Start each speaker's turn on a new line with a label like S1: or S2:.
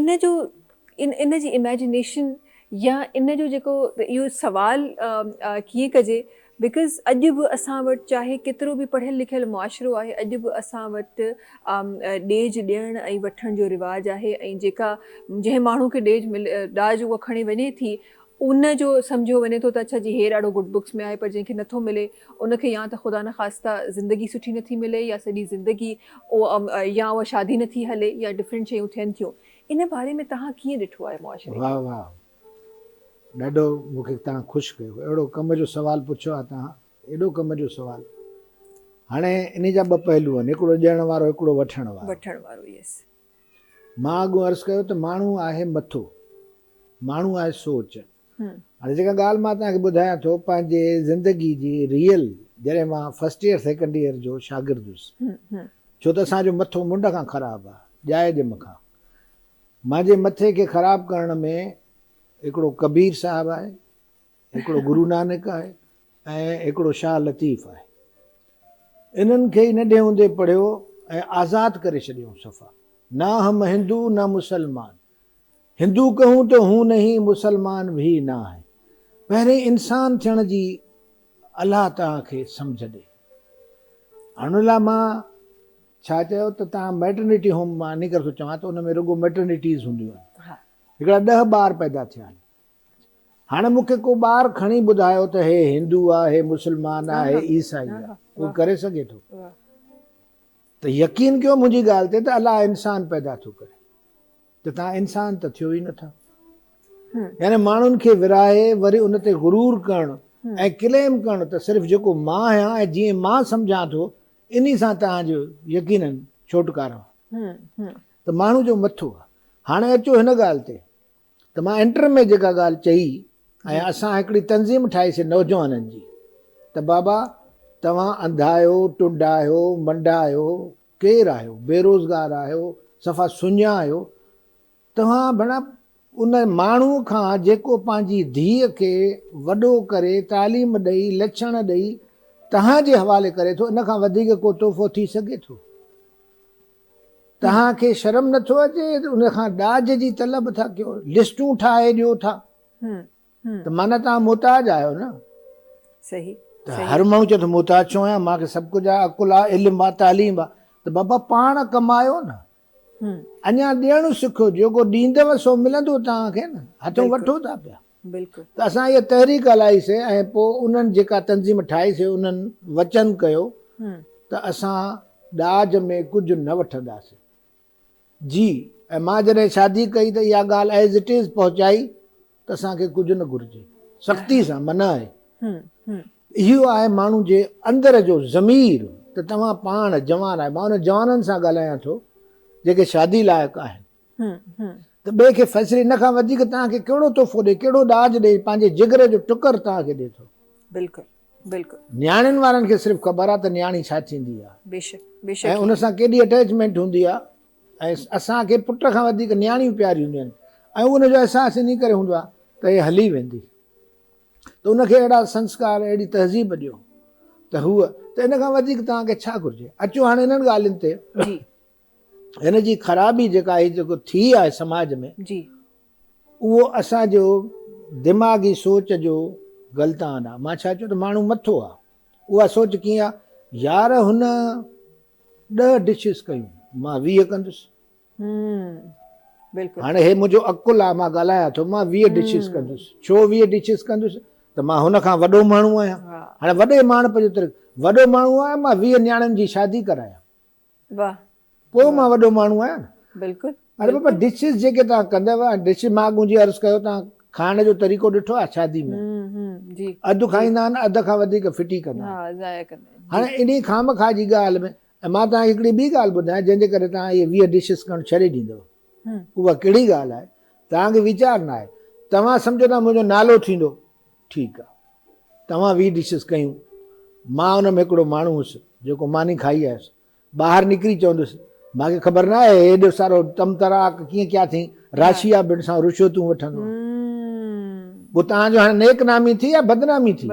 S1: ان جو ان جي Imagination يا ان جو جيڪو اهو سوال ڪيئن ڪجي Because اڄ به اسان وٽ چاهي ڪيترو به پڙهيل لکيل معاشرو آهي اڄ به اسان وٽ ڏيج ڏيڻ ۽ وٺڻ جو رواج آهي ۽ جيڪا جنهن ماڻهو کي ڏيج ڏاج اها کڻي وڃي ٿي ان جو سمجهيو وڃي ٿو ته اڇا جي هير اڙو گڊ بڪس ۾ آهي پر جنهن کي نٿو ملي ان کي يا ته خدا نخواسته زندگي سٺي نٿي ملي يا سڄي زندگي يا اها شادي نٿي هلي يا ڊفرنٽ شيون ٿين ٿيون ان باري ۾ تهان ڪيئن ڏٺو آهي معاشري کي. واھ واھ
S2: ڏاڍو مون کي تهان خوش ڪيو اهڙو ڪم جو سوال پڇيو آهي تهان ايڏو ڪم جو سوال هاڻي انهي جا ٻه پهلو آهن هڪڙو ڏيڻ وارو هڪڙو وٺڻ وارو وٺڻ وارو يس.
S1: مان
S2: اڳ عرض ڪيو ته ماڻهو آهي مٿو، ماڻهو آهي سوچ. هاڻي جيڪا ڳالهه مان توهان کي ٻڌايان ٿو پنهنجي زندگي جي ريئل جڏهن مان فرسٽ ايئر سيڪنڊ ايئر جو شاگرد هيس ڇو ته اسان جو مٿو منڍ کان خراب آ ڄائي ڄم کان مانجي مٿي کي خراب ڪرڻ ۾ هڪڙو ڪبير صاحب آهي هڪڙو گرو نانڪ آهي ۽ هڪڙو شاهه لطيف آهي. انهن کي ئي ننڍي هوندي پڙهيو ۽ آزاد ڪري ڇڏيائون صفا. نا هم هندو نا مسلمان. هندو ڪهون تو هون نهين مسلمان ڀي نا هين. پهرين انسان ٿيڻ جي الله توهان کي سمجهه ڏي. هن لاء مان ڇا چيو ته توهان ميٽرنيٽي هوم مان انهي ڪري ٿو چوان ته ان ۾ رڳو ميٽرنيٽيز هونديون آهن. هڪڙا ڏهه ٻار پيدا ٿيا آهن. هاڻي مون کي ڪو ٻار کڻي ٻڌايو ته هي هندو آ، هي مسلمان آ، هي عيسائي آ، ڪوئي ڪري سگهي ٿو؟ ته يقين ڪيو منهنجي ڳالهه تي ته الله انسان پيدا ٿو ڪري ته توهان انسان ته ٿيو ئي نه ٿا. يعني ماڻهن کي ورهائي وري ان تي غرور ڪرڻ ۽ ڪليم ڪرڻ ته صرف جيڪو مان آهيان ۽ جيئن مان سمجهان ٿو انهي سان توهان جو يقيناً ڇوٽڪارو آهي ته ماڻهو جو مٿو آ. هاڻي اچو هن ڳالهه تي ته مان انٽر ۾ جيڪا ڳالهه چئي ۽ اسان هڪڙي تنظيم ٺاهي سي نوجوانن جي ته بابا توهان انڌا آهيو، ٽنڊا آهيو، منڊا آهيو، ڪير آهيو، بيروزگار آهيو، صفا سڃا آهيو، توهان ڀڻا ان ماڻهو کان جيڪو پنهنجي ڌيء کي وڏو ڪري تعليم ڏئي لڇڻ ڏئي توهان جي حوالي ڪري ٿو ان کان وڌيڪ ڪو تحفو ٿي سگهي ٿو؟ توهان کي شرم نه ٿو اچي ان کان ڏاج جي طلب ٿا ڪيو لسٽون ٺاهي ڏيو ٿا ته معنيٰ تان محتاج آهيو نه صحيح
S1: ته هر ماڻهو
S2: چوي ٿو محتاج ڇو آهيان مان کي سڀ ڪجهه آهي عقل آهي علم آهي تعليم آهي ته بابا پاڻ ڪمايو نه اڃا ڏيڻ سکو جيڪو ڏيندو سو ملندو توهان کي نه هٿون وٺو ٿا پيا بلڪل. ته اسان
S1: اها تحريڪ
S2: هلائي سي ۽ پوء انهن جيڪا تنظيم ٺاهي سي انهن وچن ڪيو ته اسان ڏاج ۾ ڪجهه نه وٺنداسي جي ۽ مان جڏهن شادي ڪئي ته اها ڳالهه ايز اٽ ايز پهچائي ته اسان کي ڪجهه نه گهرجي سختي سان منع آهي اهو آهي ماڻهو جي اندر جو ضمير ته توهان پاڻ جوان آهي مان انهن جوانن سان ڳالهايان ٿو جيڪي شادي لائق آهن ته ٻئي کي فيصلي ان کان وڌيڪ توهان کي ڪهڙو تحفو ڏئي، ڪهڙو ڏاج ڏئي، پنهنجي جگر جو ٽڪر توهان کي ڏئي ٿو. بلڪل
S1: بلڪل. نياڻين وارن کي صرف
S2: خبر آ ته نياڻي ڇا ٿيندي آ. بيشڪ بيشڪ.
S1: ۽ ان سان ڪيڏي
S2: اٽيچمينٽ هوندي آ ۽ اسان کي پٽ کان وڌيڪ نياڻيون پياريون هونديون آهن ۽ ان جو احساس انهي ڪري هوندو آ ته هي هلي ويندي ته ان کي اهڙا سنسڪار اهڙي تهذيب ڏيو ته هوء ته ان کان وڌيڪ توهان کي ڇا گهرجي. اچو هاڻي انهن ڳالهين تي. جي. هن جي خرابي جيڪا هي جيڪو ٿي آهي سماج ۾ جي اهو اسان جو دماغي سوچ جو غلطان آهي مان ڇا چيو ته ماڻهو مٿو آهي اها سوچ ڪيئن آهي يار هن ڏهه ڊشز ڪيون مان ويهه ڪندس بلڪل هاڻي هي منهنجو عقل آهي مان ڳالهايان ٿو مان ويهه ڊشز ڪندس ڇو ويهه ڊشز ڪندس ته مان هن کان وڏو ماڻهو آهيان هاڻي وڏي ماڻهپ جو طريقو وڏو ماڻهو آهيان مان ويهه نياڻين جي شادي ڪرايان واه پوء مان وڏو ماڻهو آهيان نه. بلڪل. اري بابا
S1: ڊشز
S2: جيڪي توهان ڪندؤ ها ڊش مان اڳ جي عرض ڪيو توهان کائڻ جو طريقو ڏٺو آهي شادي ۾ اڌ کائيندا آهن اڌ کان وڌيڪ ڦٽي ڪندا آهن هاڻي انهي خامخواه جي ڳالهه ۾ ۽ مان توهان کي هڪڙي ٻي ڳالهه ٻڌايان جنهن جي ڪري توهان اهي ويهه ڊشز ڪرڻ ڇڏي ڏيندؤ اها ڪهڙي ڳالهه آهي توهان کي ويچار نه آهي توهان سمجهو ٿا منهنجو نالو ٿيندو ٺيڪ آ توهان ويهه ڊشز ڪيون مان ان ۾ هڪڙو ماڻهو هوس جيڪو ماني کائي آيس ٻاهر نڪري چوندس مانکي خبر نه آهي هيڏو سارو تم تراڪ ڪيئن ڪيا اٿئين راشيا بنسان رشوتون وٺندو آهي پوء توهان جو هاڻي نيڪ نامي ٿي يا بدنامي ٿي